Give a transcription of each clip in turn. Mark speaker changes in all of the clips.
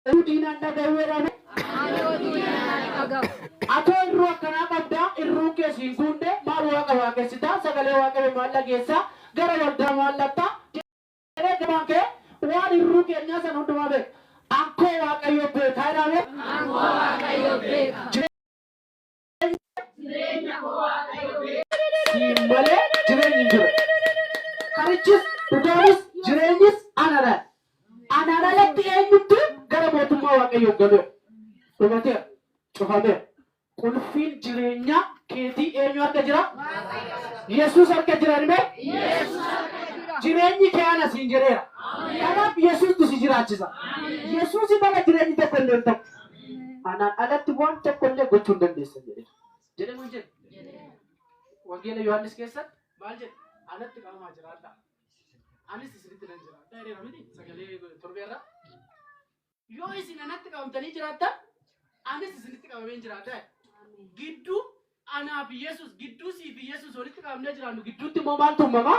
Speaker 1: Oduu diinaa hin dhaga'u jedhame. Ani oduu diinaa hin dhaga'u. Atoo irruu akkanaa qabdaa, irruun kee si hin guundee, maal Waaqa waaqessitaa, sagalee Waaqayyoo maal dhageessaa, gara waldaa maal dhaqxaa? jedhee gabaan ka'ee waan irruu keenyaa sana hundumaa beeka. Ankoo Waaqayyo beeka jedhaa mee. Ankoo Waaqayyo beeka. Siin malee jireenyi hin jiru. Karichis, dhugaanis, jireenyis anadha. Anaan alatti eenyuttu gara mootummaa Waaqayyoo galuu? Dhumateera. Cufameera. Qulfiin jireenyaa keetii eenyu harka jira? Yesuus harka jira nimee? Jireenyi kee ana siin jedheera. Kanaaf Yesuusni si jiraachisa. Yesuusin ala jireenyi tokko illee hin ta'u. Anaan alatti waan tokko illee gochuu hin dandeessan jedheera. Jedhe moo hin jedhe? Wangeela Yohaannis keessatti maal jedhe? Anatti qabamaa jiraadhaa. Anis isinitti nan jiraadhaa jedheera miti sagalee torbeerraa. Yoo isin anatti qabamtanii jiraattan anis isinitti qabameen jiraadhaa. Gidduu anaa fi Yesuus gidduu sii fi Yesuus walitti qabamnee jiraannu gidduutti immoo maaltu uumamaa?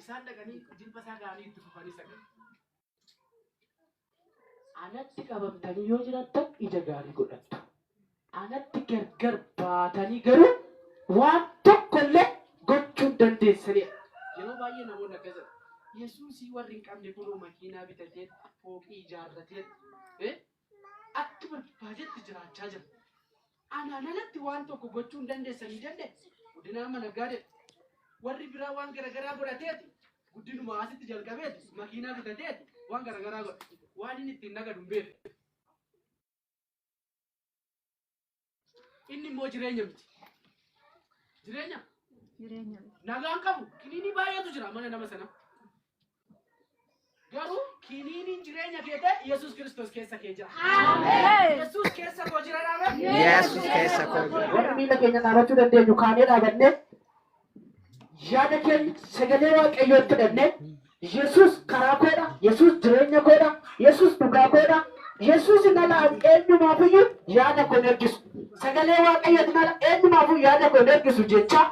Speaker 1: Isaan dhaqanii jilba isaa ga'anii itti fufanii sagadan. Anatti qabamtanii yoo jiraattan ija gaarii godhattu. Anatti gargar baatanii garuu waan tokko illee gochuu hin dandeessaniidha. Yeroo baay'ee namoonni akkas jedhu. Yesuusii warri hin qabne kunoo makiinaa bitateet, fooqii ijaarrateet, Akka barbaadetti jiraachaa jira. Anaan alatti waan tokko gochuu hin dandeessanii jenne guddinaa mana gaadeti. Warri biraa waan garagaraa godhateeti guddinuma asitti jalqabeeti makiinaa bitateeti waan garagaraa godha. Waan inni ittiin nagadu hin beeku. Inni immoo jireenya miti. Jireenya Jireenya miti. nagaan qabu kiniinii baay'eetu jira mana nama sana. Garuu kiniiniin jireenya kee ta'e Yesuus Kiristoos keessa kee jira. Yesuus keessa koo jira dhaabee. Yesus keessa koo jira. Warri miila keenya dhaabachuu dandeenyu kaanee dhaabannee yaada keenya sagalee waaqayyoon kadhannee Yesuus karaa koodha, Yesuus jireenya koodha, Yesuus dhugaa koodha, Yesuus nala an eenyumaafiyyuu yaada koon ergisu. Sagalee waaqayyooti nala eenyumaafuu yaada koon ergisu jechaa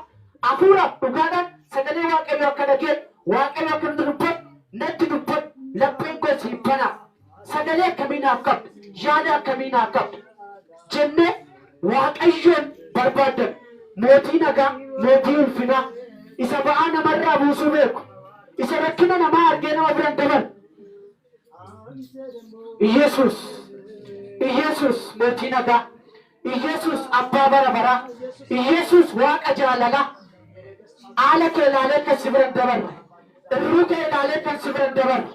Speaker 1: hafuuraaf dhugaadhaan sagalee waaqayyoo akka dhageenyu waaqayyo akka nu dubbatu natti dubbadhu lapheen koo siif banaa. Sagalee akkamii naaf qabda? Yaada akkamii naaf qabda? jennee Waaqayyoon barbaaddanna. Mootii nagaa, Mootii ulfinaa, isa ba'aa namarraa buusuu beeku, isa rakkina namaa argee nama bira hin dabarre. Iyyasuus, Iyyasuus, Mootii nagaa. Iyesus abbaa bara baraa. Iyesus waaqa jaalalaa. Aala kee ilaalee kan si bira hin dabarre. Irruu kee ilaalee kan si bira hin dabarre.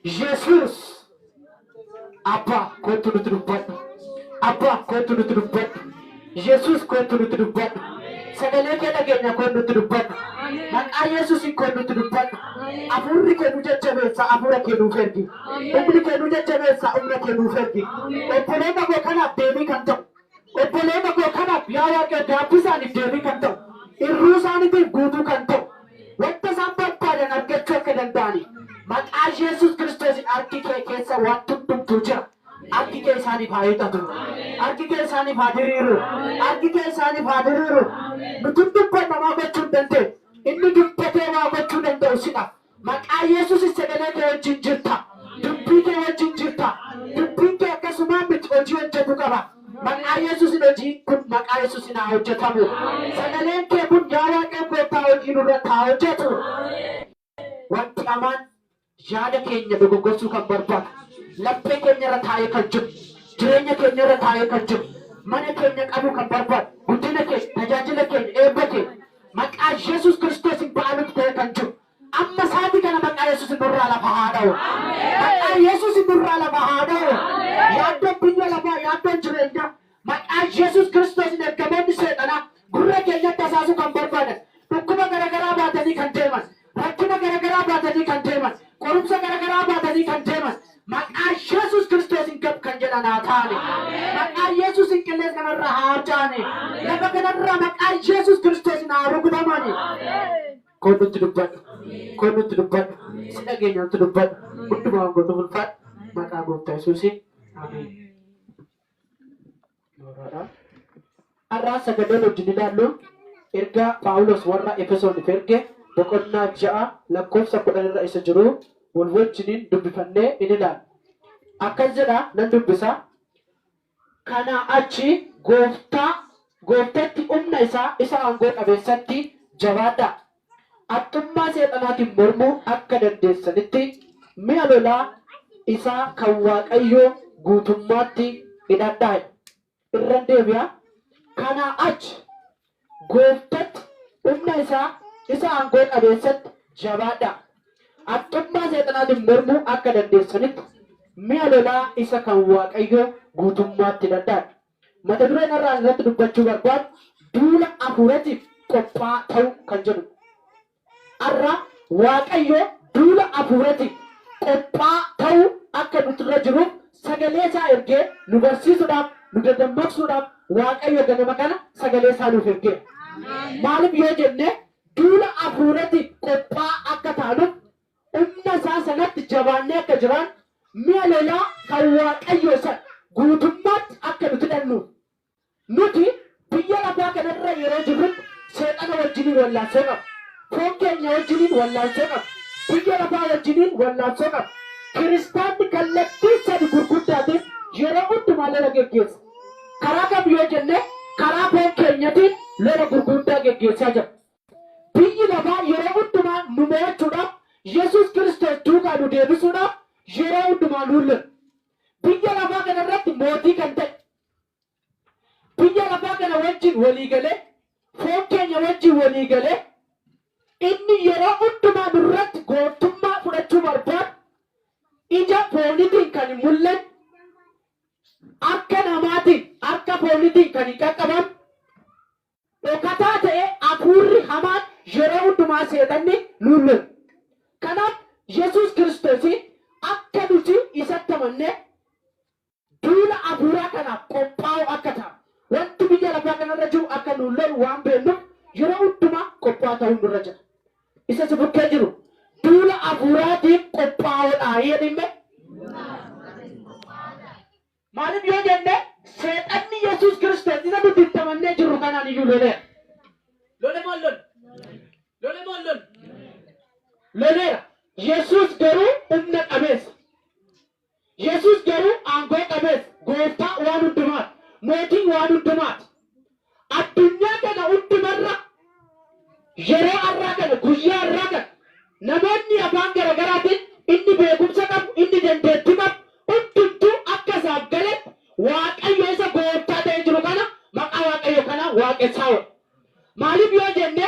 Speaker 1: Yesus. Abbaa koottu nuti dubbadhu. Abbaa koottu nuti dubbadhu. Yesus koottu nuti dubbadhu. Sagalee kee dhageenya koon nuti dubbadhu. Maqaa Yesusin koon nuti dubbadhu. Afuurri kee nu jajjabeessa afuura kee nuuf ergi. Humni kee nu jajjabeessa, humna kee nuuf ergi. Obboloota koo kanaaf deebii kan ta'u, obboloota koo kanaaf yaa Waaqayyo gaaffii isaaniif deebii kan ta'u, irruu isaaniitiif guutuu kan ta'u, wanta isaan barbaadan argachuu akka danda'aniif maqaa Yesus Kiristoosiin harki kee keessa wanti hundumtuu jira. Harki kee isaaniif haa hiixatu. Harki kee isaaniif haa diriiru. Harki kee isaaniif haa diriiru. Nuti hin dubbanna maa gochuu hin dandeenyu. Inni dubbatee waa gochuu danda'u sidha. Maqaa Yesuusin sagalee kee wajjin jirta. Dubbii kee wajjin jirta. Dubbiin kee akkasumaan miti hojii hojjetu qaba. Maqaa Yesuusin hojiin kun maqaa Yesuusin haa hojjetamu. Sagaleen kee kun yaa Waaqayyo gooftaa hojii nurratti haa hojjetu. Wanti hamaan yaada keenya dogoggorsuu kan barbaadu, laphee keenya irra taa'ee kan jiru, jireenya keenya irra taa'ee kan jiru, mana keenya qabuu kan barbaadu, guddina keenya, tajaajila keenya, eebba keenya, Maqaa Yesus Kiristoosin ba'alutti ta'ee kan jiru. Amma saati kana maqaa Yesusin nurraa lafa haa dha'u. Maqaa Yesusin nurraa lafa haa dha'u. Yaaddoon biyya lafaa, yaaddoon jireenyaa, maqaa Yesus Kiristoosin ergamoonni seexanaa gurra keenyatti hasaasuu kan barbaadan, dhukkuba garagaraa baatanii kan deeman, Rakkina gara garaa baatanii kan deeman, qorumsa gara garaa baatanii kan deeman, maqaa Yesus Kristoosiin gab kan jedhan haa ta'ani. Maqaa Yesusiin qillees kana irraa haa harca'ani. Lafa kana irraa maqaa Yesus Kristoosiin haa rukutamani. Koon nutti dubbadhu. Koon nutti dubbadhu. Si dhageenya nutti dubbadhu. Hundumaa waan gootuuf ulfaadhu. Maqaa Gooftaa Yesusiin. Ameen. Har'aa sagaleen wajjin ilaallu ergaa Phaawulos warra Efesooniif erge boqonnaa 6 lakkoofsa 10 irra isa jiru wal wajjiniin dubbifannee in ilaalla. Akkas jedha nan dubbisa. Kanaa achi gooftaa gooftatti humna isaa isa aangoo qabeessatti jabaadhaa. haxxummaa Seexanaatiin mormuu akka dandeessanitti, mi'a lolaa isaa kan Waaqayyoo guutummaatti hidhadhaa jedha. Irran deebi'a, kanaa achi Gooftatti, humna isaa isa aangoo qabeessatti jabaadhaa. Haxxummaa Seexanaatiin mormuu akka dandeessanitti, mi'a lolaa isa kan Waaqayyoo guutummaatti hidhadhaa jedha. Mata dureen har'a ani irratti dubbachuu barbaadu duula afuuratiif qophaa'aa ta'uu kan jedhudha. Har'a Waaqayyo duula afuuratiif qophaa'aa ta'uu akka nuti irra jiruuf sagalee isaa ergee nu barsiisudhaaf, nu dadammaqsuudhaaf Waaqayyo ganama kana sagalee isaa nuuf ergeera. Maaliif yoo jenne duula afuuratiif qophaa'aa akka taanuuf Humna isaa sanatti jabaannee akka jiraannu, mi'a lolaa kan Waaqayyoo sana guutummaatti akka nuti hidhannuuf. Nuti biyya lafaa kana irra yeroo jirrutti Seexana wajjiniin wallaansoo qabna. Foon keenya wajjiniin wallaansoo qabna. Biyya lafaa wajjiniin wallaansoo qabna. Kiristaanni kallattii sadi gurguddaatiin yeroo hundumaa lola geggeessa. Karaa kam yoo jenne, karaa foon keenyatiin lola gurguuddaa geggeessaa jira. Biyyi lafaa yeroo hundumaa nu mo'achuudhaaf, Yesuus Kiristoos duukaa nu deebisuudhaaf yeroo hundumaa nuun lola. Biyya lafaa kana irratti mootii kan ta'e, biyya lafaa kana wajjin walii galee, foon keenya wajjin walii galee, inni yeroo hundumaa nu irratti gooftummaa fudhachuu barbaadu, ija foonitiin kan hin mul'anne, harka namaatiin, harka foonitiin kan hin qaqqabamne, dhokataa ta'e afuurri hamaan yeroo hundumaa seexanni nuun lola. Kanaaf Yesuus Kiristoosiin akka nuti isatti amannee duula afuuraa kanaaf qophaa'oo akka taanu, wanti biyya lafaa kanarra jiru akka nuun lolu waan beennuuf yeroo hundumaa qophaa'aa ta'uun nurra jira. Isa si bukkee jiru duula afuuraatiif qophaa'oodhaa jedhiin mee. Maaliif yoo jenne, Seexanni Yesuus Kiristoos isa nuti itti amannee jirru kanaan iyyuu loleera. Lole moo hin lolle? Lole moo hin lolle? Loleera. Yesuus garuu humna qabeessa. Yesuus garuu aangoo qabeessa. Gooftaa waan hundumaati. Mootii waan hundumaati. Addunyaa tana hundumarra yeroo arraa kana guyyaa arraa kana namoonni afaan garagaraatiin inni beekumsa qabu inni dandeetti qabu hundumtuu akka isaaf galetti waaqayyo isa gooftaa ta'ee jiru kana maqaa waaqayyo kanaan waaqessaaudha. Maaliif yoo jenne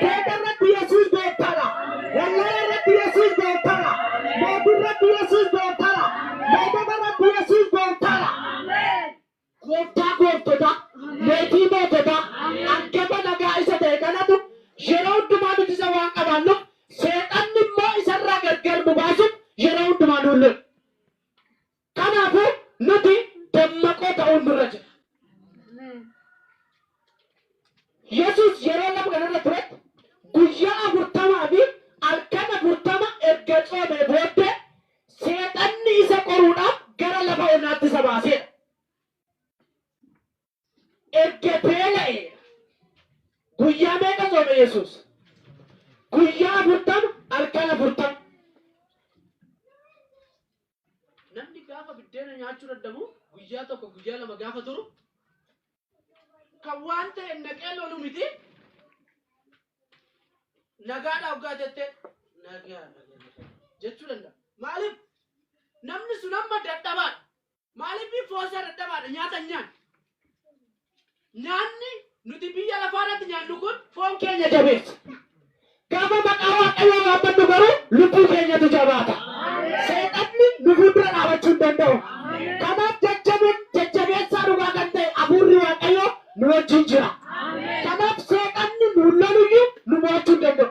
Speaker 1: Seeta irratti Yesuus gooftara. Wallala irratti Yesuus gooftara. Mootii irratti Yesuus gooftara. Mootota irratti Yesuus gooftara. Gooftaa gooftota, mootii mootota, argama nagaa isa ta'e kanatu yeroo hundumaa nuti isa waan qabaannuuf seexanni immoo isarraa gargar nu baasuuf yeroo hundumaa nuun lola. Kanaafuu nuti dammaqoo ta'uun nurra jira. Yesuus yeroo lafa kanarra turetti guyyaa afurtamaa fi halkan afurtama erga tsoomee booddee Seexanni isa qoruudhaaf gara lafa onaatti isa baaseera. Erga beela'eera. Guyyaa meeqa tsoome Yesuus? Guyyaa afurtama, halkan afurtama. Namni gaafa biddeena nyaachuu dadhabu guyyaa tokko guyyaa lama gaafa turu kan waan ta'e naqee lolu miti. Nagaadhaa hoggaa jette nagaa nagaa jechuu danda'a. Maaliif namni sun amma dadhabaadha. Maaliif foon isaa dadhabaadha nyaata hin nyaanne. Nyaanni nuti biyya lafaa irratti nyaannu kun foon keenya jabeessa. Gaafa maqaa Waaqayyoo waammannu garuu lubbuu keenyatu jabaata. Seexanni nu fuuldura dhaabachuu hin danda'u. Kanaaf jajjaboon jajjabeessaa dhugaa kan ta'e hafuurri Waaqayyoo nu wajjin jira. Kanaaf seexanni nuun loluyyuu nu mo'achuu hin danda'u.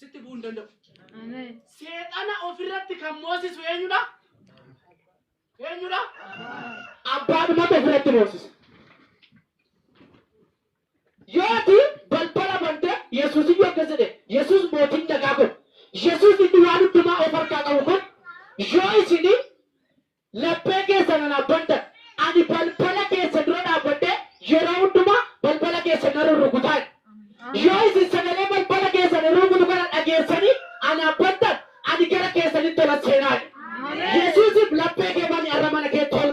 Speaker 1: sitti bu'uu hin danda'u. Amen. Seexana ofirratti kan moosisu eenyudha? Eenyudha? Abbaadhumatu ofirratti moosisa. Yooti balbala bante Yesuus iyyuu akkas jedhe Yesuus mootiin nagaa kun Yesuus inni waan hundumaa of harkaa qabu kun yoo isin Laphee keessa nan abbantan. Ani balbala keessa dura dhaabbadhee yeroo hundumaa balbala keessa nan rurrukuta jedhe. Yoo isin sagalee balbala keessan ruukutu kana dhageessanii ana abbantan, ani gara keessanitti olan seenaa jedhe. Yesuusiif laphee kee bani arra mana keetti ol.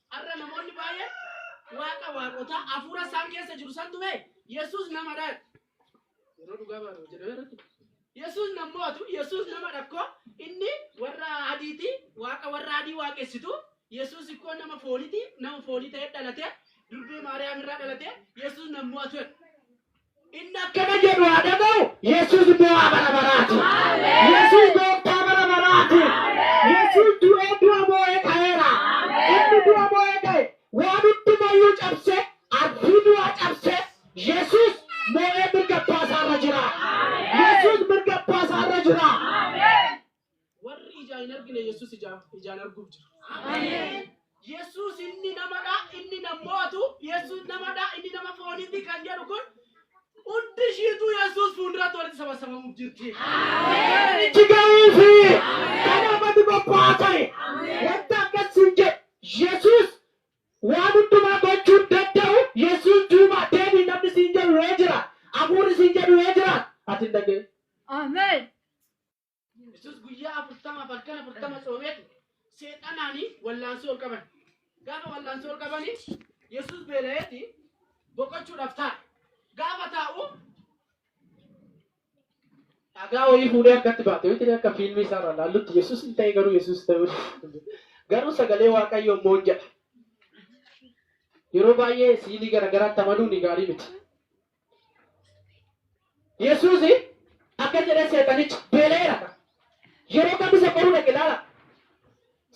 Speaker 1: Har'a namoonni baay'een waaqa waaqotaa hafuura isaan keessa jiru santu bee Yesuus nama dhaati. Yeroo dhugaa baanu jedhamee irratti. Yesuus nan mo'atu, Yesuus nama dhakkoo, inni warra adiiti, waaqa warra adii waaqessitu, Yesuus ikkoo nama fooniti, nama foonii ta'ee dhalate, durbee Maariyaam irraa dhalate, Yesuus nan mo'atu jedha. Inni akkana jedhu haa dhaga'u. Yesuus mo'aa bara baraati. Yesuus gooftaa bara baraati. Yesuus du'ee du'a moo'ee ka'eera. Inni du'a moo'ee ka'e. Waan hundumayyuu cabsee, ardii du'aa cabsee, Yesuus moo'ee mirga abbaa isaarra jira. Yesuus mirga abbaa isaarra jira. Warri ijaa hin argine Yesuus ijaa, ijaan arguuf jiru. Ameen. Yesuus inni namadha, inni nam mo'atu, Yesuus namadha, inni nama fooniiti kan jedhu kun hundi ishiitu Yesuus fuulduratti walitti sabasabamuuf jirti. Itti gahuufi kan amati bobba'aa ta'e wanta akkas siin jedhe Yesuus waan hundumaa gochuun danda'u Yesuus duuba deebi'i namni siin jedhu yoo jiraate hafuurri siin jedhu yoo jiraate ati hin dhaga'in. Ameen. Yesus guyyaa afurtamaaf halkan afurtama soomeetu seexanaanii wallaansoo ol qaban. Gaafa wallaansoo ol qabanii Yesus beela'eeti boqochuudhaaf taa'e. Gaafa taa'u dhagaa wayii fuudhee harkatti baate yoo ta'e akka fiilmii isaa irraa laallutti Yesus hin ta'e garuu Yesus ta'uu garuu sagalee Waaqayyoo immoo hin jedha. Yeroo baay'ee siilii garaagaraatti amanuun gaarii miti. Yesuus akka jedhe seexanichi beela'eera kan. Yeroo kam isa qoruu dhaqe ilaala.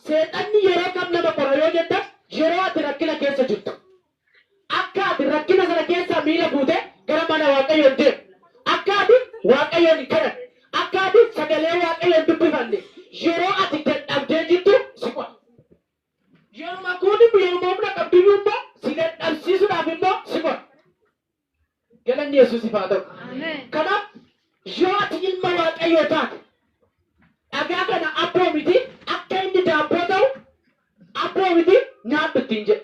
Speaker 1: Seexanni yeroo kam nama qora yoo jettan yeroo ati rakkina keessa jirtu. Akka ati rakkina sana keessaa miila buute gara mana Waaqayyoo hin deemu. Akka ati Waaqayyoon hin kadhanne. Akka ati sagalee Waaqayyoo hin dubbifanne. Yeroo ati dadhabdee jirtu si qora. Yeruma kuunimmo yeruma humna qabduyyuu immoo si dadhabsiisuudhaaf immoo si qora. Galanni Yesuusiif haa ta'u. Kanaaf yoo ati ilma Waaqayyoo taate dhagaa kana abboomitii akka inni daabboo ta'u abboomitii nyaadhu ittiin jedhe.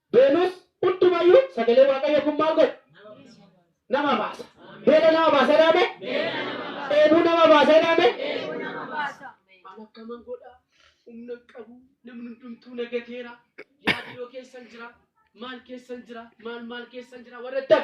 Speaker 1: Beenus hundumayyuu sagalee Waaqayyoo kun maal godha? Nama baasa. Beela nama baasa jedhaame? Dheebuu nama baasa jedhaame? An akkaman godha? Humna hin qabu. Namni hundumtuu na gateera. Yaadiyoo keessan jira. Maal keessan jira? Maal maal keessan jira? Warra jettan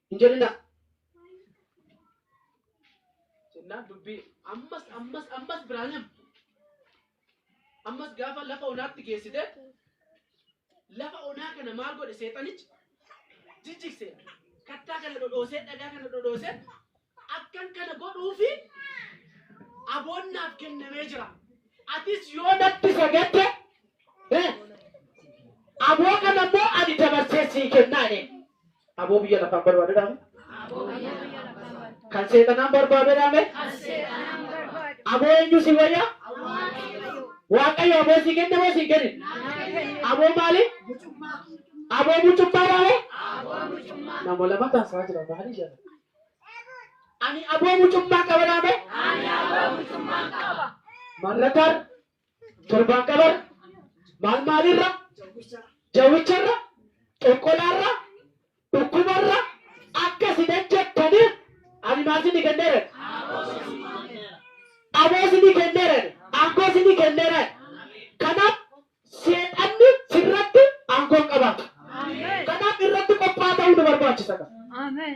Speaker 1: hin jedhinaa. Jennaan dubbii ammas ammas ammas biraan him. Ammas gaafa lafa onaatti geessite lafa onaa kana maal godhe seexanichi jijjigse kattaa kana dhodhoosee dhagaa kana dhodhoosee akkan kana godhuufi aboonnaaf kennamee jira. Atis yoo natti sagadde Eh, Aboo kana immoo ani dabarsee sii kennaa jedheen. Aboo biyya lafaan barbaadadhaame. Kan seexanaan barbaadadhaame. Aboo eenyu si wayya? Waaqayyo aboo sii kenne moo siin kennin? Aboo maali? Aboo mucummaa dhaame? Nama lama taasaa jira maali jala? Ani aboo mucummaa qaba dhaame? Marratar Torbaan qabara maal maalirra jawwicharra xonqolaarra dhukkubarra akka si dajjattaniif ani maal sini kenneeran aboo sini kenneeran aangoo sini kenneeran kanaaf seexanni sirratti aangoo hin qabaatu kanaaf irratti qophaa ta'uu nu barbaachisa Amen.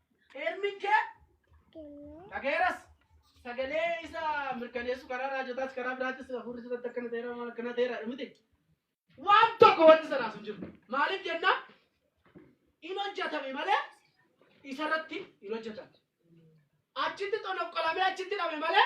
Speaker 1: Eermiin kee dhagayeeras sagalee isa mirkaneessu karaa raajotaas karaa biraattis hafuurri irratti akkana ta'eera waan akkana ta'eera miti. Waan tokko wanti sanaas hin jiru. Maaliif jennaan hin hojjetame malee isarratti hin hojjetamne. Achitti xonoqqolamee achitti dhabe malee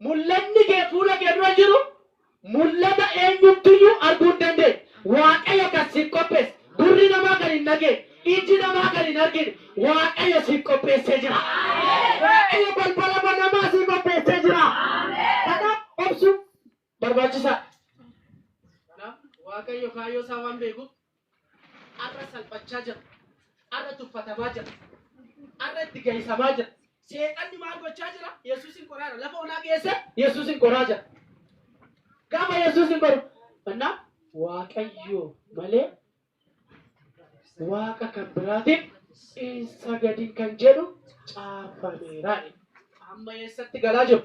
Speaker 1: Mul'atni kee fuula kee dura jiru mul'ata eenyumtiyyuu arguu hin dandeenye. Waaqayyo kan siif qopheesse, gurri namaa kan hin dhageenye, iji namaa kan hin argine Waaqayyo siif qopheessee jira. Waaqayyo balbala banamaa sii qopheessee jira. Kanaaf obsuun barbaachisaadha. Kanaaf Waaqayyo kaayyoo isaa waan beekuuf Har'a salphachaa jira. Har'a tuffatamaa jira. Har'a itti gahisamaa jira. Seexanni maal gochaa jira? Yesuusin qoraa jira. Lafa onaa geesse Yesuusin qoraa jira. Gaafa Yesuusin qoru. Kanaaf Waaqayyoo malee waaqa kan biraatiif hin sagadin kan jedhu caafameera. Amma eessatti galaa jiru?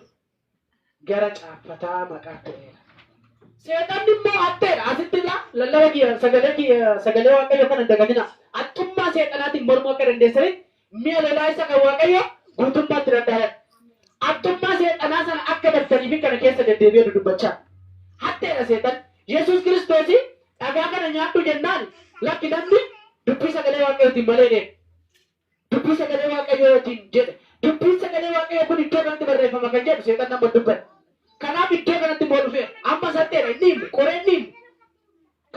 Speaker 1: gara caaffataa maqaa ta'eera. Seexanni immoo hatteedha. Asitti ilaa lallaba kiyya sagalee kiyya sagalee Waaqayyoo kana hin dagatinaa. Haxxummaa seexanaatiin mormuu akka dandeessanitti mi'a lolaa isa kan Waaqayyoo guutummaatti danda'aadhaan. Haxxummaa seexanaa sana akka battaniifin kana keessa deddeebi'ee dudubbachaa. Hatteedha seexanni. Yesuus Kiristoosii dhagaa kana nyaadhu jennaan lakki namni dubbii sagalee Waaqayyootiin malee hin eegu. Dubbii sagalee Waaqayyoo wajjin jedhe. Dubbiin sagalee Waaqayyoo kun iddoo kanatti barreeffama kan jedhu seexanni amma hin dubbanne. Kanaaf iddoo kanatti immoo dhufeera. Ammas haxxeedha, hin dhiifne, qoree hin dhiifne.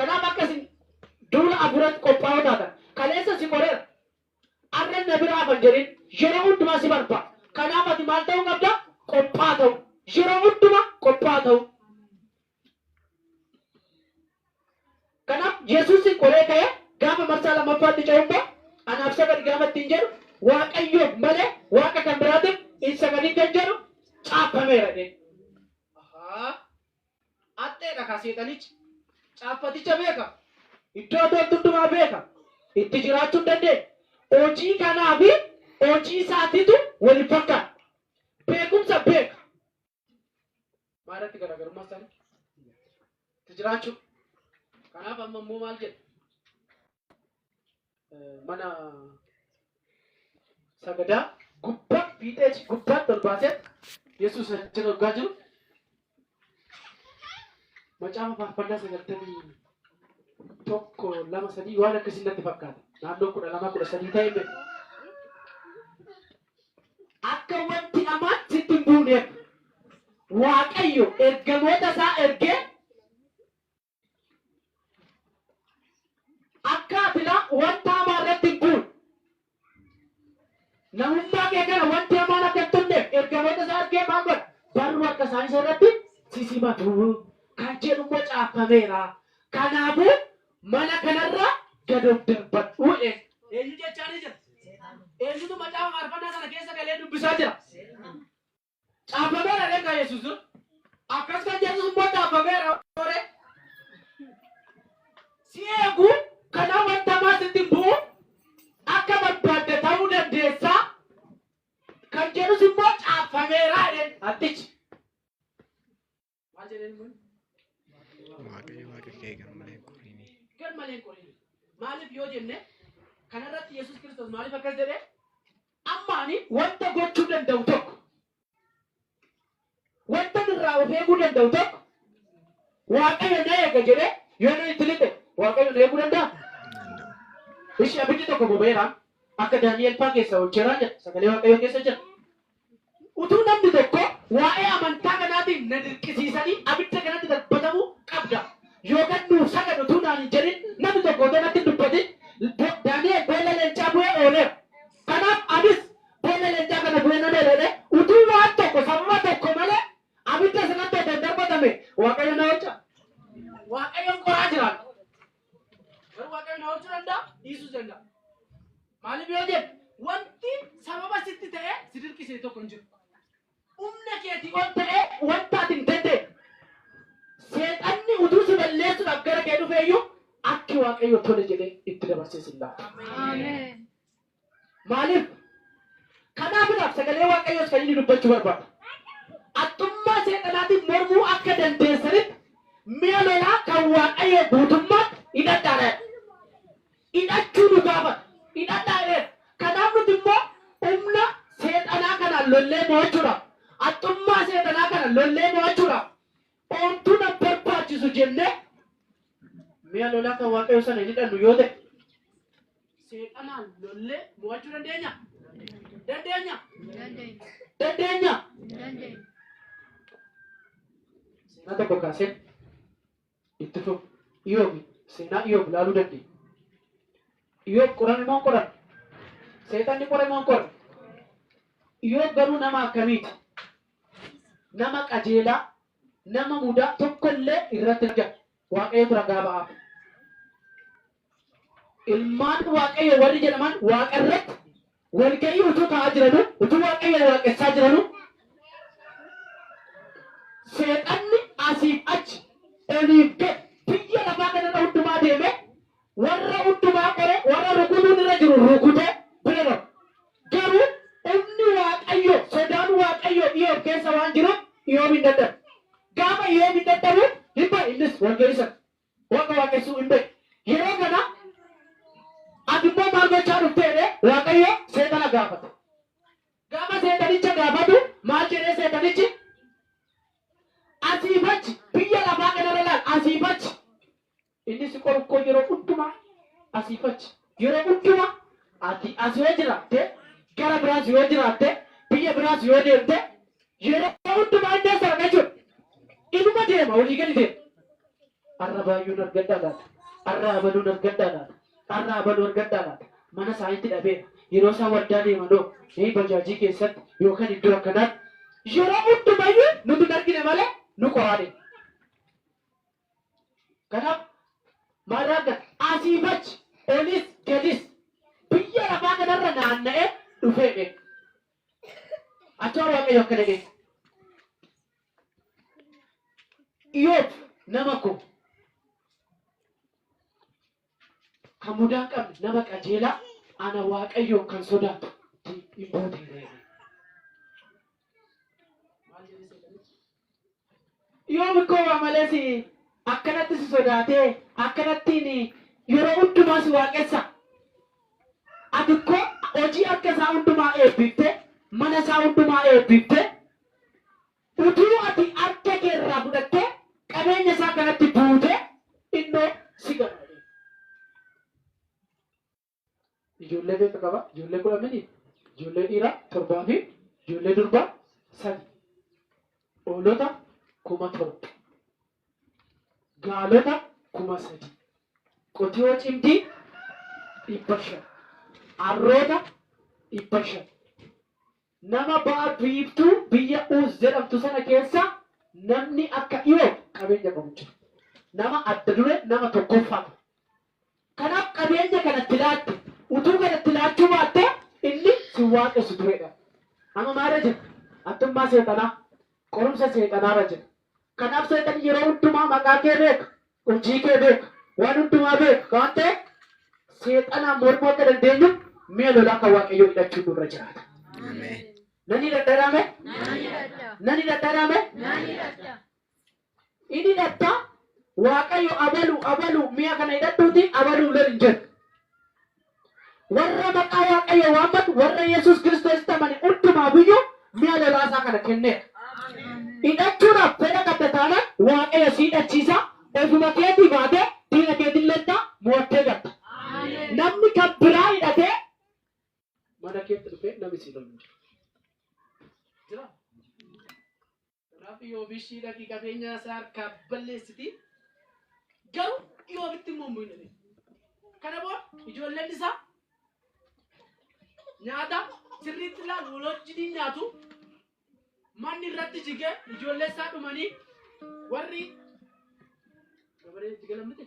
Speaker 1: Kanaaf akka isin duula hafuuratti qophaa'oo taatan. Kaleessa si qoreera. Arras na bira hafa hin jedhin. Yeroo hundumaa si barbaada. Kanaaf ati maal ta'uu qabda? Qophaa'aa ta'uu. Yeroo hundumaa qophaa'aa ta'uu. Kanaaf Yesuus qoree ka'ee gaafa marsaa lammaffaatti ce'u immoo anaaf sagadi gaafa ittiin jedhu Waaqayyoof malee waaqa kan biraatiif hin sagadin kan jedhu caaffameera jedhe. Ahaa! Axxeedha kaa seexanichi. Caaffaticha beeka. Iddoo toltu hundumaa beeka. Itti jiraachuu hin dandeenye. Hojii kanaa fi hojii isaatiitu wal hin fakkaanne. Beekumsa beeka. Maalirratti garaagarummaa isaanii? Itti jiraachuu. Kanaaf amma immoo maal jedha? Mana sagadaa gubbaa fiixee gubbaatti ol baasee Yesuus achi argaa jiru. Macaafa faarfannaa sagaltamii tokko lama sadii waan akkasii natti fakkaata. Naannoo kudha lama kudha sadii ta'e Akka wanti hamaan sitti hin buuneef Waaqayyo ergamoota isaa ergee akka ati laa wanta hamaa irratti hin buune namummaa kee kana wanti hamaan akka hin tunneef ergamoota isaa ergee maal godha? Barruu harka isaanii isa irratti sisimatu kan jedhu immoo caaffameera. Kanaafuu Mana kanarraa gad of darbadhu jedheen. Eenyu jechaanii jira? Eenyutu macaafa faarfannaa sana keessa galee dubbisaa jira? Caaffameera reekaa Yesuus dura. Akkas kan Yesuus immoo caaffameera waree. Si eegu kanaa wanta maa sitti hin bu'u akka barbaadde ta'uu dandeessa kan jedhus immoo caaffameera jedheen hattichi. Maal jedheen kun? Waaqayyo waaqa kee garmalee hin qorini. Garmalee hin qorini. Maaliif yoo jenne kanarratti Yesuus Kiristoos maaliif akkas jedhe? Amma ani wanta gochuu danda'u tokko wanta irraa of eeguu danda'u tokko Waaqayyo na eega jedhee yoo na itti lixe Waaqayyo na eeguu danda'a? Ishi abiddi tokko boba'eera akka Daani'el faa keessaa ol cheeraa jira sagalee Waaqayyo keessa jira. Utuu namni tokko waa'ee amantaa kanaatiin na dirqisiisanii abidda kanatti darbatamuu qabda yookan nuuf sagadi utuu naan hin jedhin namni tokko otoo natti hin dubbatin Daani'el boolla leencaa bu'ee ooleera. Kanaaf anis boolla leencaa kana bu'ee nan oole jedhee utuu waan tokko sababa tokko malee abidda sanatti otoo hin darbatamee Waaqayyo na oolcha? Waaqayyoon qoraa jiraadhu. Garuu Waaqayyo na oolchuu danda'a, dhiisuus danda'a. Maaliif yoo jette wanti sababa sitti ta'ee si dirqisiise tokko hin jiru. Humna keetii ol ta'ee wanta ati hin dandeenye. Seexanni utuu si balleessuudhaaf gara kee dhufeeyyuu akki Waaqayyo tole jedhee itti dabarsee si hin laatu. Maaliif? Kanaafidhaaf sagalee Waaqayyoos kan inni dubbachuu barbaadu. Haxxummaa seexanaatiin mormuu akka dandeessanitti mi'a lolaa kan Waaqayyoo guutummaatti hidhadhaadha jedha. Hidhachuu nu gaafata. Hidhadhaa jedheera. Kanaaf nuti immoo humna seexanaa kanaan lollee mo'achuudhaaf, haxxummaa seexanaa kana lollee mo'achuudhaaf Omtu na barbaachisu jennee mi'a lolaa kan Waaqayyoo sana hin hidhannu yoo ta'e, seexanaan lollee mo'achuu dandeenya? Dandeenya? Dandeenya? Seenaa tokko kaaseen itti fufu. Iyoob, seenaa Iyoob ilaaluu dandeenya. Iyoob qorame moo hin qoramne? Seexanni qore moo hin qorre? Iyoob garuu nama akkamiiti? nama qajeelaa, nama mudaa tokko illee irratti hin argamne. Waaqayyotu ragaa ba'aaf. Ilmaan Waaqayyoo warri jedhaman waaqa irratti walga'ii utuu taa'aa jiranuu, utuu Waaqayyoon waaqessaa jiranuu, seexanni asiif achi, oliif gad, biyya lafaa kanarra hundumaa deemee, Warra hundumaa qoree, warra rukutuun irra jiru rukutee bira darba. Garuu humni Waaqayyoo, sodaan Waaqayyoo Iyoob keessa waan jiruuf Iyoob hin dadhabu. Gaafa Iyoob hin dadhabu hin ba'a innis wal ga'ii sana. Waaqa waaqessuu hin beeku. Yeroo kana Ati immoo maal gochaa dhufte jedhee Waaqayyo seexana gaafata. Gaafa seexanicha gaafatu maal jedhee seexanichi? Asii fi achi biyya lafaa kanarra ilaali. Asii fi achi Inni si qoru koo yeroo hundumaa asiif achi. Yeroo hundumaa ati as yoo jiraatte, gara biraas yoo jiraatte, biyya biraas yoo deemte, yeroo hundumaa inni as arga jechuudha. Inuma deema, olii gadi deema. Har'a baay'uun argadhaa laata? Har'a abaluun argadhaa laata? Har'a abaluu argadhaa laata? Mana isaanitti dhabeera. Yeroo isaan waldaa deemanoo, ee bajaajii keessatti yookaan iddoo akkanaatti yeroo hundumayyuu nuti hin argine malee nu qoraa deema. Kanaaf maal argata? Asiif achi, olis gadis biyya lafaa kanarra naanna'ee dhufee beeka. Achoo Waaqayyo akkana jedhe. Iyoob nama koo. Kan mudaa hin qabne nama qajeelaa, ana Waaqayyoon kan sodaatu ti in booteera jedhe. Maal jedhe seexanichi? Yoo mikkoo waa malee si akkanatti si sodaatee akkanattiin yeroo hundumaa si waaqessa. Ati ikkoo hojii harka isaa hundumaa eebbiftee, mana isaa hundumaa eebbiftee, Utuu ati harka kee irraa fudhattee qabeenya isaa kanatti buutee innoo si gana jedheen. Ijoollee meeqa qaba? Ijoollee kudha mini? Ijoollee dhiiraa torbaa fi ijoollee durbaa sadi. Hoolota kuma torba. Gaalota kuma sadi. Qotiyoo cimdii dhibba shan. Harroota dhibba shan. Nama ba'a biiftuu biyya Uuz jedhamtu sana keessa namni akka Iyoob qabeenya qabu hin jiru. Nama adda dureen nama tokkoffaa ture. Kanaaf qabeenya kana itti laatte. Utuu kana itti laachuu baatte inni sin waaqessu ture jedhan. Amma maalirra jirra? Haxxummaa seexanaa, qorumsa seexanaarra jirra. Kan Aab seexanni yeroo hundumaa maqaa kee beeka, hojii kee beeka, waan hundumaa beeka kan ta'e seexanaan mormuu akka dandeenyu mi'a lolaa kan Waaqayyoo hidhachuun nurra jiraata. Nan hidhadharaame? Nan hidhadharaame? In hidhatta Waaqayyo abalu abalu mi'a kana hidhadhuuti abaluun lol hin jedhu. Warra maqaa Waaqayyoo waammatu, warra Yesuus Kiristoositti amane hundumaafiyyuu mi'a lolaa isaa kana kenneera. Hidhachuudhaaf fedha qabda taanaan Waaqayyo si hidhachiisa, ofuma keetii baatee diina keetiin lolta, mo'attee galta. Namni kan biraa hidhatee mana keetti dhufee namni si lolu hin jiru. Jiraa? Rabbi Iyoob ishii dhaqi qabeenyaa isaa harkaa balleessiti. Garuu Iyoobitti immoo hin bu'in jedhe. Kana booda ijoolleen isaa nyaata sirriitti ilaalu waloojjiin nyaatu manni irratti jigee ijoollee isaa dhumanii warri gabaree itti galamte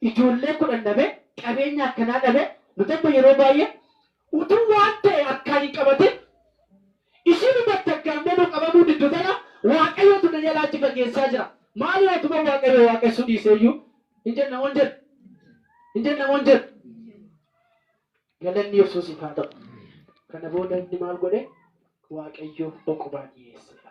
Speaker 1: ijoollee kudhan dhabe, qabeenya akkanaa dhabe, nuti amma yeroo baay'ee utuu waan ta'e harkaan hin qabatin ishiinumatti aggaammee nu qabamuu diddu tana, Waaqayyootu na jalaa achi fageessaa jira, maaloo otuman Waaqayyoo waaqessuu dhiisee iyyuu hin jenna moo hin jennu? Hin jenna moo hin jennu? Galanni Yesuusiif haa ta'u! Kana booda inni maal godhe? Waaqayyoof boqobaa dhiyeesseera.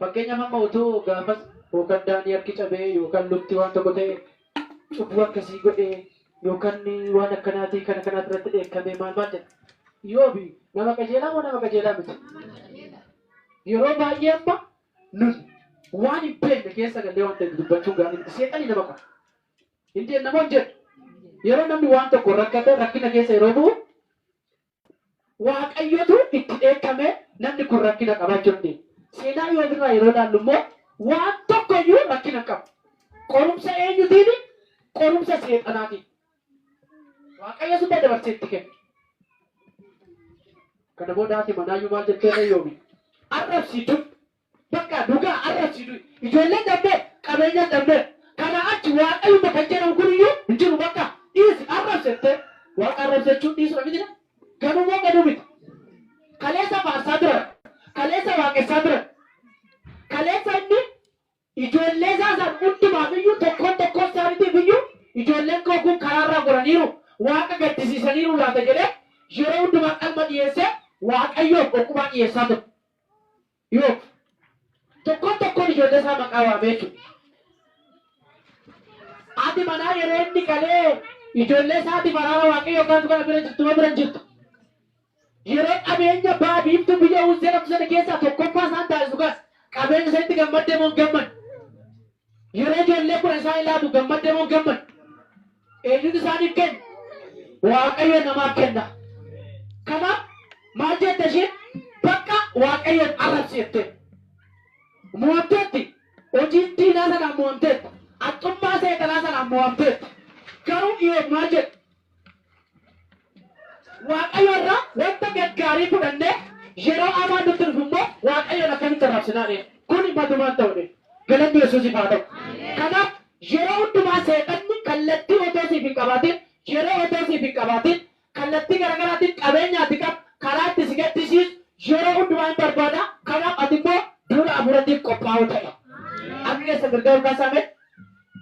Speaker 1: Fakkeenyaaf amma otoo gaafas yookan Daanii harki cabee yookan lukti waan tokko ta'e cubbuu akkasii godhe yookan waan akkanaatii kana kanaati irratti dheekkamee maal maal jedha. Iyoob nama qajeelaa moo nama qajeelaa miti? Yeroo baay'ee amma nun waan hin beekne keessa gallee waan ta'e dudubbachuun gaarii miti. Seexanni nama qora. Hin jeenna moo hin jeennu? Yeroo namni waan tokkoon rakkate rakkina keessa yeroo bu'u Waaqayyotu itti dheekkame, namni kun rakkina qaba jechuu dandeenya. Seenaa Iyoob irraa yeroo ilaallu immoo waan tokko iyyuu rakkina hin qabu. Qorumsa eenyutiini? Qorumsa seexanaatiin. Waaqayyo summa dabarsee itti kenne. Kana booda haati manaa iyyuu maal jetteerree Iyoobin? Arrabsiituun. Bakka dhugaa arrabsi du'i. Ijoolleen dhabneerra, qabeenyas dhabneerra. Kanaa achi waaqayyumma kan jedhamu kun iyyuu hin jiru bakka dhiisi arrabsi jettee waaqa arrabsi jechuun dhiisudha miti kaa. Ganuu moo ganuu miti? Kaleessa faarsaa turan, kaleessa waaqessaa turan, kaleessa inni ijoollee isaa san hundumaaf iyyuu tokkoon tokkoo isaaniitiif iyyuu ijoolleen koo kun karaarraa goraniiru, waaqa gaddisiisaniiru laata jedhee yeroo hundumaa qalma dhiyeessee waaqayyoof okkubaa dhiyeessaa ture. Yoob tokkoon tokkoon ijoollee isaa maqaa waamee jechuudha. Haati manaa yeroo inni qalee ijoollee isaatiif araara waaqayyoo kadhatu kana bira jirtu moo bira hin jirtu? Yeroo qabeenya ba'a biiftuu biyya Uuz jedhamtu sana keessaa tokkoffaa isaan taasisu kanas qabeenya isanitti gammadde moo hin gammadne? Yeroo ijoollee kudhan isaanii laatu gammadde moo hin gammaddu? Eenyutu isaaniif kenna? Waaqayyo namaaf kenna. Kanaaf maal jette isheen? Bakka Waaqayyoon arrabsi jette. Mo'amteetti. Hojiin diinaa sanaan mo'amteetti. Haxxummaa seexanaa sanaan mo'amteetti. Garuu Iyoob maal jedhe? Waaqayyo irraa wanta gaggaarii fudhannee yeroo amaan nutti dhufu immoo Waaqayyoon akkamitti arrabsinaa ree? Kuni matumaan ta'u dide. Galanni Yesuusiif haa ta'u. Kanaaf yeroo hundumaa seexanni kallattii otoo siif hin qabaatiin, yeroo otoo siif hin qabaatiin, kallattii garagaraatiin qabeenya ati qabdu karaa itti si gaddisiisu yeroo hundumaa hin barbaada. Kanaaf ati immoo duula hafuuratiif qophaa'oo ta'i. Harka keessan mirgaa ol kaasaa mee?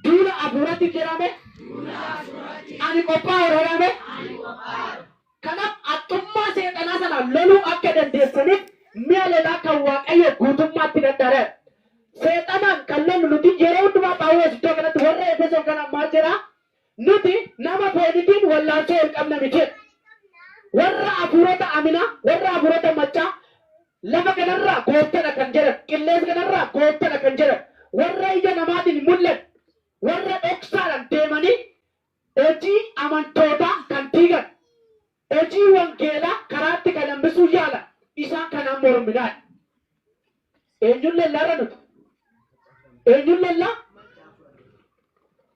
Speaker 1: Duula afuuratti jirame ani qophaa'u dhalame. Kanaaf haxxummaa seexanaa sana loluu akka dandeessaniif mi'a lolaa kan Waaqayyoo guutummaatti dadhaadha. Seexanaan kan lollu nuti yeroo hundumaa Phaawulos iddoo kanatti warra Efesoon kanaan maal jedhaa? Nuti nama foonitiin wallaansoo ol qabna miti jedha. Warra afuurota aminaa, warra afuurota maccaa, Lafa kana irraa gooftadha kan jedhan, qilleesa kana irraa gooftadha kan jedhan, warra ija namaatiin hin mul'anne, warra dhoksaadhaan deemanii hojii amantootaa kan diigan, hojii wangeelaa karaatti kan hambisuu yaalan, isaan kanaan morminaa dha. Eenyun lolla har'a nuti? Eenyun lolla?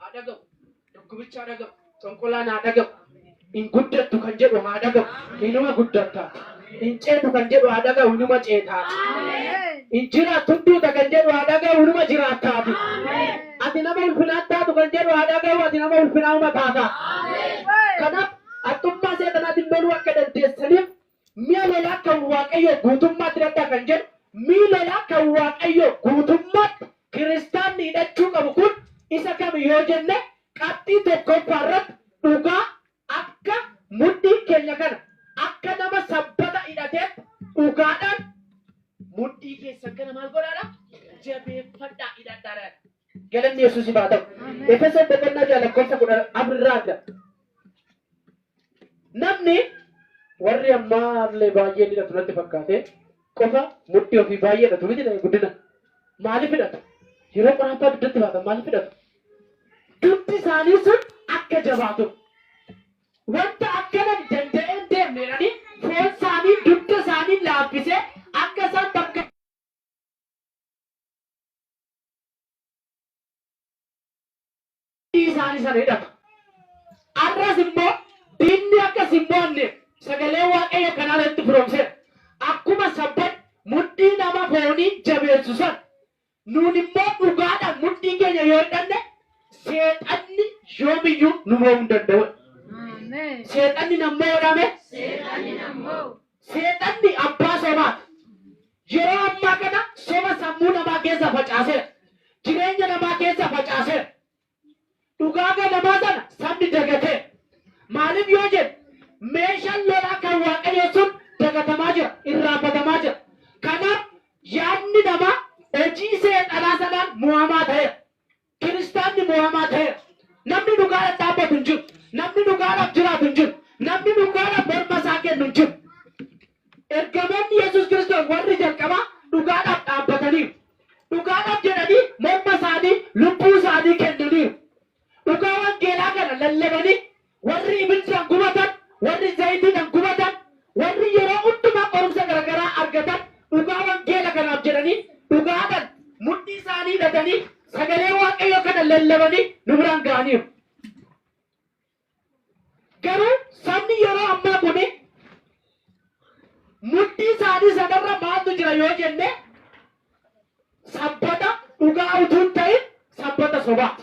Speaker 1: haa dhagahu dhukkubichi haa dhagahu xonqolaan haa dhagahu hin guddattu kan jedhu haa dhagahu hinuma guddatta hin ceetu kan jedhu haa dhagahu hinuma ceetaa hin jiraattu duuta kan jedhu haa dhagahu hinuma jiraattaati ati nama ulfinaan taatu kan jedhu haa dhagahu ati nama ulfinaa uma taataa kanaaf haxxummaa seexanaatiin loluu akka dandeessaniif Mi'a lolaa kan Waaqayyoo guutummaatti hidhadhaa kan jedhu, mi'i lolaa kan Waaqayyoo guutummaatti kiristaanni hidhachuu qabu kun isa kami yoo jenne, qabxii tokkooffaa irratti dhugaa akka mudhiin keenya kana, akka nama sabbata hidhateetti dhugaadhaan mudhii keessan kana maal godhaadha? Jabeeffadhaa, hidhadhaadha jedha. Galanni Yesuusiif haa ta'u. Efesoon boqonnaa 6 lakkoofsa 14 irraa argama. Namni warri ammaa illee baay'een hidhatu natti fakkaate qofa mudhii ofii baay'ee hidhatu miti ta'e guddina. Maaliif hidhatu? Yeroo qoraataa dugdatti baatan maaliif hidhatu? Dugdi isaanii sun akka jabaatuuf. Wanta akkanan danda'een deemne jedhanii foon isaanii dugda isaanii laaffisee akka isaan bakka Hojii isaanii sana hidhatu. Har'as immoo diinni akka si hin mo'anneef sagalee Waaqayyoo kan haala nutti firoomseera. Akkuma sabban mudhii nama foonii jabeessu sana nuun immoo dhugaadhaan mudhii keenya yoo hidhanne seexanni yoomiyyuu nu mo'uu hin danda'u. Seexanni nan mo'uudhaame. Seexanni abbaa sobaati. Yeroo ammaa kana soba sammuu namaa keessa facaaseera. Jireenya namaa keessa facaaseera. Dhugaa ganamaa sana sabni dagateera. Maaliif yoo jenne meeshaan lolaa kan Waaqayyoo sun dagatamaa jira, irraanfatamaa jira. Kanaaf yaadni namaa hojii seexanaa sanaan mo'amaa ta'eera. Kiristaanni moo'amaa ta'eera. Namni dhugaadhaaf dhaabbatu hin jiru. Namni dhugaadhaaf jiraatu hin jiru. Namni dhugaadhaaf morma isaa kennu hin jiru. Ergamoonni Yesuus Kiristoos warri jalqabaa dhugaadhaaf dhaabbataniiru. Dhugaadhaaf jedhanii morma isaanii, lubbuu isaanii kennaniiru. Dhugaa wangeelaa kana lallabanii Warri ibiddaan gubatan, warri zayitiidhaan gubatan, warri yeroo hundumaa qorumsa garagaraa argatan dhugaa wangeela kanaaf jedhanii dhugaadhaan mudhii isaanii hidhatanii sagalee Waaqayyoo kana lallabanii nu biraan ga'aniiru. Garuu sabni yeroo ammaa kuni mudhii isaanii sanarra maaltu jira yoo jenne sabbata dhugaa utuu hin ta'in sabbata sobaati.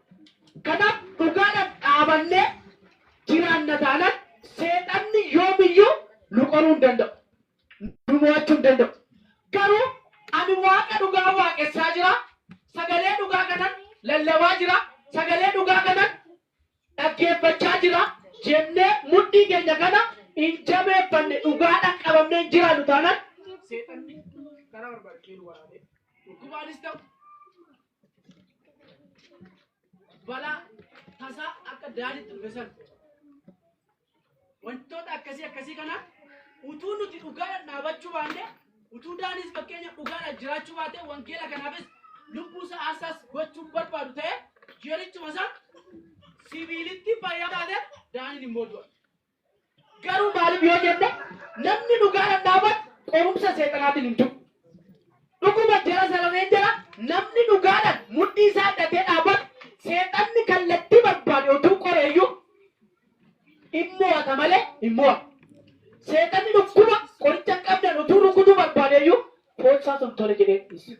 Speaker 1: Kanaaf dhugaadhaan dhaabannee jiraanna taanaan seexanni yoomiyyuu nu qoruu hin danda'u. Nu mo'achuu hin danda'u. Garuu ani Waaqa dhugaa waaqessaa jira, sagalee dhugaa kanan lallabaa jira, sagalee dhugaa kanan dhaggeeffachaa jira jennee mudhii keenya kana hin jabeeffanne dhugaadhaan qabamnee hin jiraannu taanaan seexanni karaa barbaade ishee nu waraanee dhukkubaanis ta'u balaa tasaa akka daaditti dhufe san wantoota akkasii akkasii kana utuu nuti dhugaadhaan dhaabachuu baanne utuu daaniis fakkeenya dhugaadhaan jiraachuu baate wangeela kanaafis lubbuu isaa aarsaas gochuun barbaadu ta'e jerichuma isaa sibiilitti fayyaa taate daaniin immoo du'a. Garuu maaliif yoo jenne namni dhugaadhaan dhaabatu qorumsa seexanaatiin hin du'u. Dhuguma jara salameen jira namni dhugaadhaan mudhii isaa hidhatee dhaabatu seexanni kallattii barbaade otuu qoreeyyuu in mo'ata malee hin mo'amu. Seexanni dhukkuba qoricha hin qabneen otuu rukutuu barbaadeeyyuu foon isaatu hin tole jedhee dhiisa.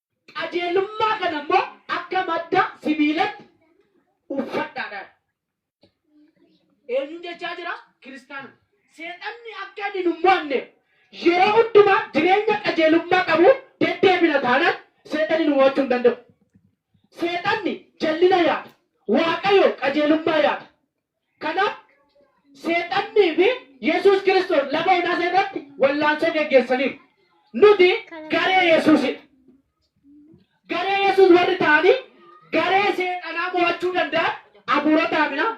Speaker 1: Qajeelummaa kana immoo akka madda sibiilatti uffadhaadhaan. Eenyuun jechaa jira? Kiristaana. Seexanni akka inni nu mo'anne yeroo hundumaa jireenya qajeelummaa qabu deddeebina taanaan seexanni nu mo'achuu hin danda'u. Seexanni jallina yaada. Waaqayyo qajeelummaa yaada. Kanaaf, Seexannii fi Yesuus Kiristoos lafa onaa sana irratti wallaansoo geggeessaniiru. Nuti garee Yesuusi dha. Garee Yesuus warri ta'anii garee Seexanaa mo'achuu danda'an hafuurota haminaa,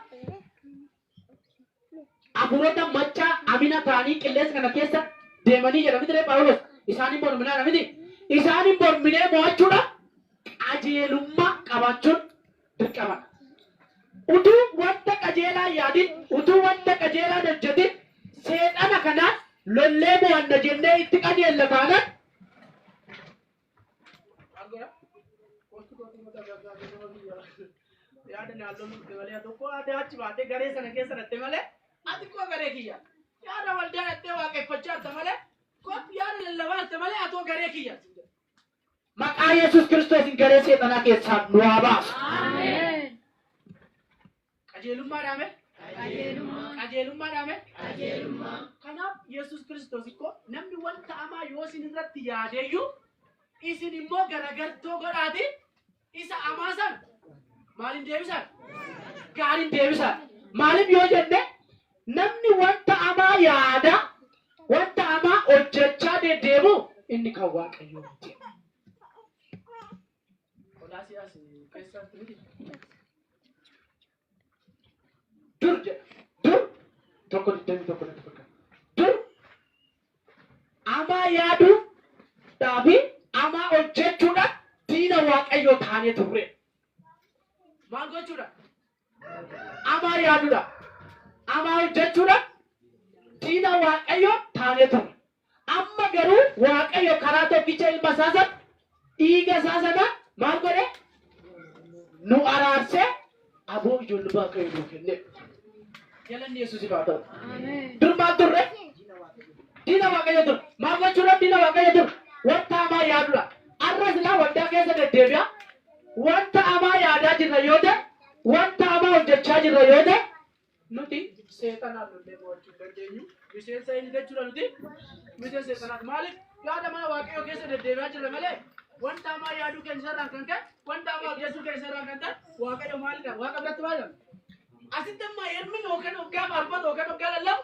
Speaker 1: hafuurota maccaa hamina ta'anii qilleensa kana keessa deemanii jedha mitiree Phaawulos? Isaan hin morminaa dha miti? Isaan hin morminee mo'achuudhaaf qajeelummaa qabaachuun, dirqamadha. Utuu wanta qajeelaa hin yaadin, utuu wanta qajeelaa hin hojjetin, Seexana kana lollee mo'anna jennee itti qajeella taanaan, Maqaa Yesuus Kiristoosiin garee seexanaa keessaa nu haa baasu. Qajeelummaa dhaame? Qajeelummaa dhaame? Kanaaf Yesuus Kiristoos ikkoo namni wanta hamaa yoo isin irratti yaadeeyyuu isin immoo garagartoo godhaati Isa amaa san maaliin deebisan? Gaariin deebisan. Maaliif yoo jenne namni wanta amaa yaada wanta amaa hojjechaa deddeemu inni kan waaqayyoo miti. Qolaasiyaas keessatti miti. dur jedha dur tokko digdamii tokko natti fakkaata dur amaa yaaduu dhaafi amaa hojjechuudhaan diina waaqayyoo taanee turre maal gochuudhaan amaa yaaduudhaan amaa hojjechuudhaan diina waaqayyoo taanee turre Amma garuu Waaqayyo karaa tokkicha ilma isaa sana, dhiiga isaa sanaan maal godhee? Nu araarsee aboo ijoollee Waaqayyo nuu kennee. Galanni Yesuusiif haa ta'u. Dur maal turre? Diina Waaqayyo ture. Maal gochuudhaaf diina Waaqayyo ture? Wanta hamaa yaaduudha. Har'a silaa waldaa keessa deddeebi'a. Wanta hamaa yaadaa jirra yoo ta'e, wanta hamaa hojjechaa jirra yoo ta'e, Nuti seexanaan lollee mo'achuu hin dandeenyu. Miseensa inni jechuudha nuti. Miseensa seexanaati. Maaliif yaada maa waaqayyoo keessa deddeebi'aa jirra malee wanta hamaa yaaduu keenya isarraan kan ka'e wanta hamaa hojjechuu keenya isarraan kan ta'e waaqayyo maalidha? Waaqa biratti maalidha? Asitti amma yermin hookan hoggaa faarfatu hookan hoggaa lallabu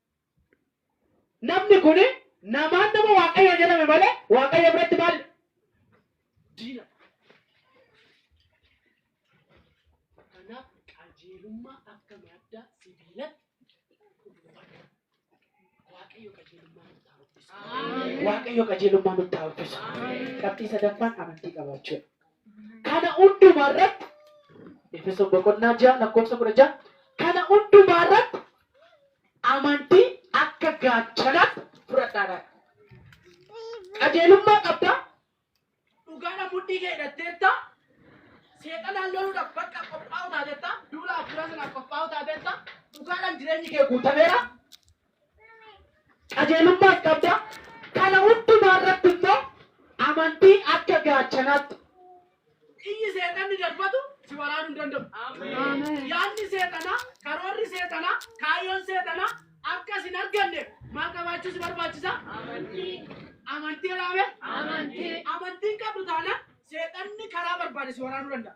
Speaker 1: Namni kun namaan nama Waaqayyoo jedhame malee Waaqayyo biratti maal? Diina. Kanaaf qajeelummaa akka madda sibiilatti uffata. Waaqayyo qajeelummaa nutti haa uffisu. Waaqayyo qajeelummaa nutti haa uffisu. Qabxii sadaffaan amantii qabaachuudha. Kana hundumaa irratti Efesoon boqonnaa ja'a lakkoofsa kudha ja'a kana hundumaa irratti amantii akka gaachanaatti fudhadhaadhaan. Qajeelummaa qabdaa, dhugaadhaan mudhii kee hidhatteetta, seexanaan loluudhaaf bakka qophaa'u taateetta, duula hafuuraa sanaaf qophaa'u taateetta, dhugaadhaan jireenyi kee guutameera, qajeelummaas qabda. Kana hundumaa irratti immoo amantiin akka gaachanaatti. Xiyyi seexanni darbatu si waraanuu hin danda'u. Yaadni seexanaa, karoorri seexanaa, kaayyoon seexanaa akka sin arganne maal qabaachuu si barbaachisa? Amantii jedhaame. Amantiin qabdu taanaan seexanni karaa barbaade si waraanuu danda'a.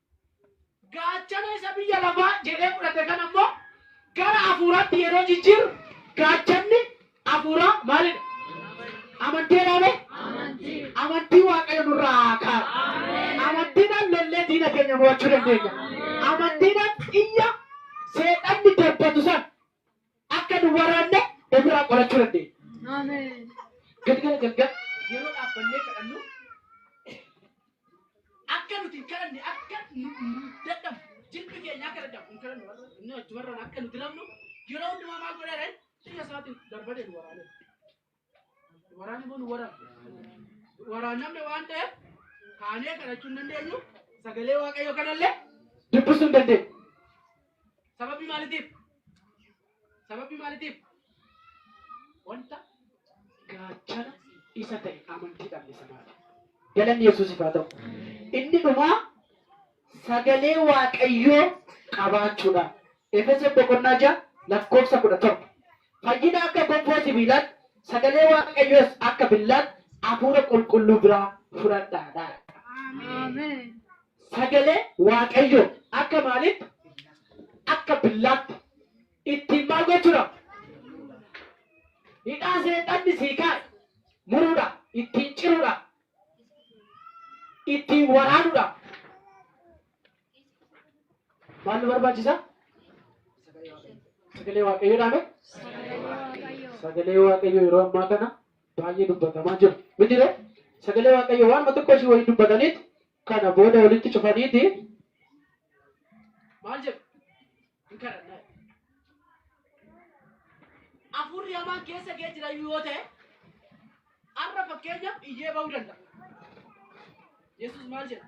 Speaker 1: Gaachana isa biyya lafaa jedhee fudhate kana immoo gara hafuuraatti yeroo jijjiirru gaachanni hafuuraa maalidha? Amanteedhaa mee? Amantii Waaqayyo nurraa haa kaa'u. Amantiidhaan lollee diina keenya mo'achuu dandeenya. Amantiidhaan xiyya seexanni darbatu san Akka nu waraanne ofirraa qolachuu dandeenya. Galgala galgala yeroo dhaabbannee kadhannu akka nuti hin kadhanne akka nu nu dadhabnu jilbi keenya akka dadhabu hin kadhannu warra inni achumarraan akka nu diramnu yeroo hundumaa maal godheera inni biyya isaatiin darbatee nu waraaneera. Waraanni kun waraannamne waan ta'eef kaanee kadhachuu hin dandeenyu sagalee waaqayyoo kanallee dubbisuu hin dandeenyu. Sababii maalitiif? Sababii maalitiif? Wanta gaachana isa ta'e amantii dhabne sanaaf. Galanni Yesuusiif haa ta'u. Inni dhumaa sagalee waaqayyoo qabaachuudhaan Efesoon boqonnaa 6 lakkoofsa 17 Fayyina akka gonfoo sibiilaatti, sagalee Waaqayyoos akka billaatti Hafuura Qulqulluu biraa fudhadhaa dha. Sagalee Waaqayyoo akka maaliitti? Akka billaatti. Ittiin maal gochuudha? Hidhaa seexanni sii kaa'e muruudha, ittiin ciruudha, ittiin waraanuudha. Maal nu barbaachisa? Sagalee Waaqayyoo dhaame? Sagalee Waaqayyoo yeroo ammaa kana baay'ee dubbatamaa jiru. Miti ree? Sagalee Waaqayyoo waanuma tokko ishii waliin dubbataniit kana booda walitti cufaniiti maal jedhu? Hin kadhannaa. Afuurri hamaan keessa kee jira iyyuu yoo ta'e har'a fakkeenyaaf iyyee ba'uu danda'a. Yesuus maal jedha?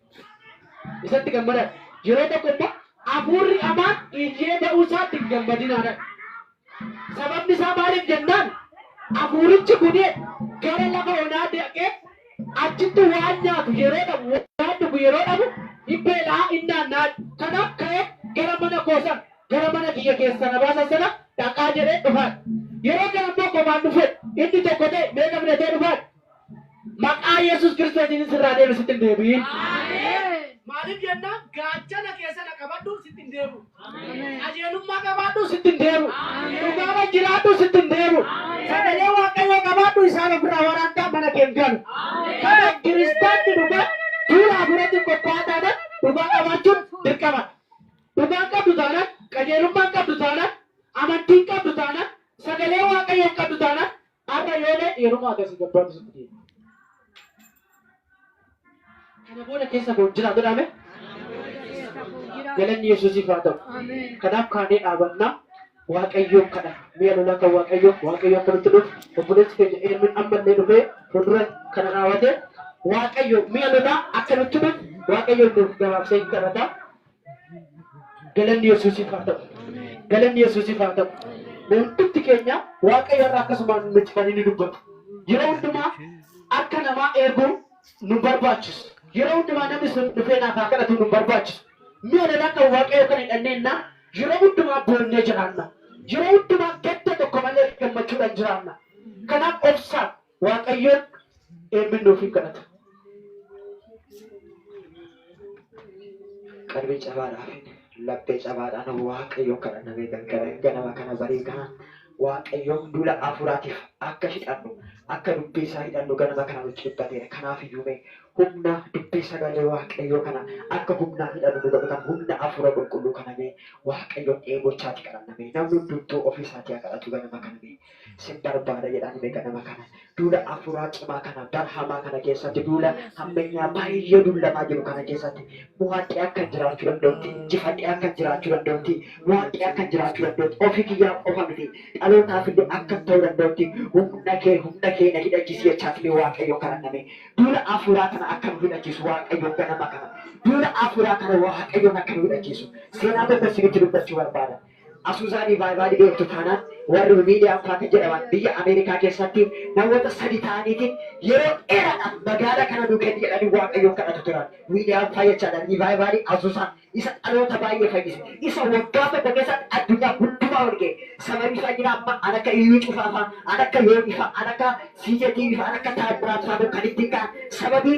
Speaker 1: Isatti gammadaa. Yeroo tokko immoo hafuurri hamaan iyyee ba'uu isaatti hin gammadinaadha. Sababni isaa maaliif jennaan hafuurichi kun gara lafa onaa dhaqee achitti waan nyaatu yeroo dhabu waan dhugu yeroo dhabu hin beela'a hin naanna'a. Kanaaf ka'ee gara mana koo sana gara mana kiyya keessaa na baasan sana dhaqaa jedhee dhufaadha. Yeroo kana immoo kophaan dhufeedha. Inni tokko ta'e meeqa filatee dhufaadha? Maqaa Yesus Kiristootiin sirraa deeme sitti hin deebi'in. Maaliif jennaan
Speaker 2: gaachana kee sana qabadhu sitti hin deebi'u. Qajeelummaa qabaadhu sitti hin
Speaker 1: deebi'u. Dhugaadhaan jiraadhu sitti hin deebi'u. Sagalee Waaqayyoo qabaadhu isaan ofirraa waraantaa mana kee hin galu. Kanaaf kiristaanni dhugaa duula hafuuraatiin qophaa'aa taanaan dhugaa qabaachuun dirqamadha. Dhugaan qabdu taanaan, qajeelummaan qabdu taanaan, amantiin qabdu taanaan, sagalee Waaqayyoon qabdu taanaan Har'a yoo leedhe yeruma akkasii gabbaatu sitti deema. Kana booda keessa koo hin jiraa jedhaame. Galanni Yesuusiif haa ta'u. Kanaaf kaanee dhaabannaa Waaqayyoon kadhanna. Mi'a lolaa kan Waaqayyoo Waaqayyo akka nutti dhufu obboleessi keenya Eermin ammallee dhufee fuuldura kana dhaabatee Waaqayyo mi'a lolaa akka nutti dhufu Waaqayyoon nuuf gabaabsee hin kadhata. Galanni Yesuusiif haa ta'u. Galanni Yesuusiif haa ta'u. Mee hundumti keenya Waaqayyo irraa akkasumaan nuti kan inni dubbatu. Yeroo hundumaa harka namaa eeguu nu barbaachisu. Yeroo hundumaa namni sun dhufee naaf haa kadhatu nu barbaachisu. Mi'a lolaa kan Waaqayyo kan hidhanneenna yeroo hundumaa boonnee jiraanna. Yeroo hundumaa gadda tokko malee gammachuudhaan jiraanna. Kanaaf obsaan Waaqayyoon eebbi nuuf hin kadhata. Qalbii cabaadhaa fi laphee cabaadhaan Waaqayyoon kadhanna beekan kana ganama kana barii kana Waaqayyoon duula hafuuraatiif akka hidhannu akka dubbii isaa hidhannu ganama kana nu cibbateera. Kanaaf iyyuu mee humna dubbii sagalee Waaqayyoo kana akka humnaan hidhannu nu godhu kana humna hafuura qulqulluu kana mee Waaqayyoon dheebochaati kadhanna mee namni hundumtuu ofii isaatii haa kadhatu ganama kana mee. sin barbaada jedhaan mee ganama kana duula afuuraa cimaa kana bara hamaa kana keessatti duula hammeenyaa baay'ee dullamaa jiru kana keessatti mo'adhee akkan jiraachuu danda'utti injifadhee akkan jiraachuu danda'utti mo'adhee akkan jiraachuu danda'utti ofii kiyyaa qofa miti dhalootaaf illee akkan ta'uu danda'utti humna kee humna kee na hidhachiisi jechaati mee waaqayyoon kadhanname duula afuuraa kana akka nu hidhachiisu waaqayyoon ganama kana duula afuuraa kana waaqayyoon akka nu hidhachiisu seenaa tokko isinitti dubbachuu barbaada. Asuuzaan Ivaayvaadii beektu taanaan warri Wiiliyaam Paaka jedhaman biyya Ameerikaa keessatti namoota sadi ta'aniitiin yeroo dheeraadhaaf magaala kana nuu kenni jedhanii Waaqayyoon kadhatu turan. Wiiliyaam fayyachaadhaan Ivaayvaadii Asuuzaa isa dhaloota baay'ee fayyise, isa waggaa tokko keessatti addunyaa hundumaa wal ga'e. Sababii isaa jira amma an akka Iyyuu Cufaa faa, an akka Yoonii faa, an akka CJTV faa, an akka Taammiraat faa kun kan ittiin ka'an sababii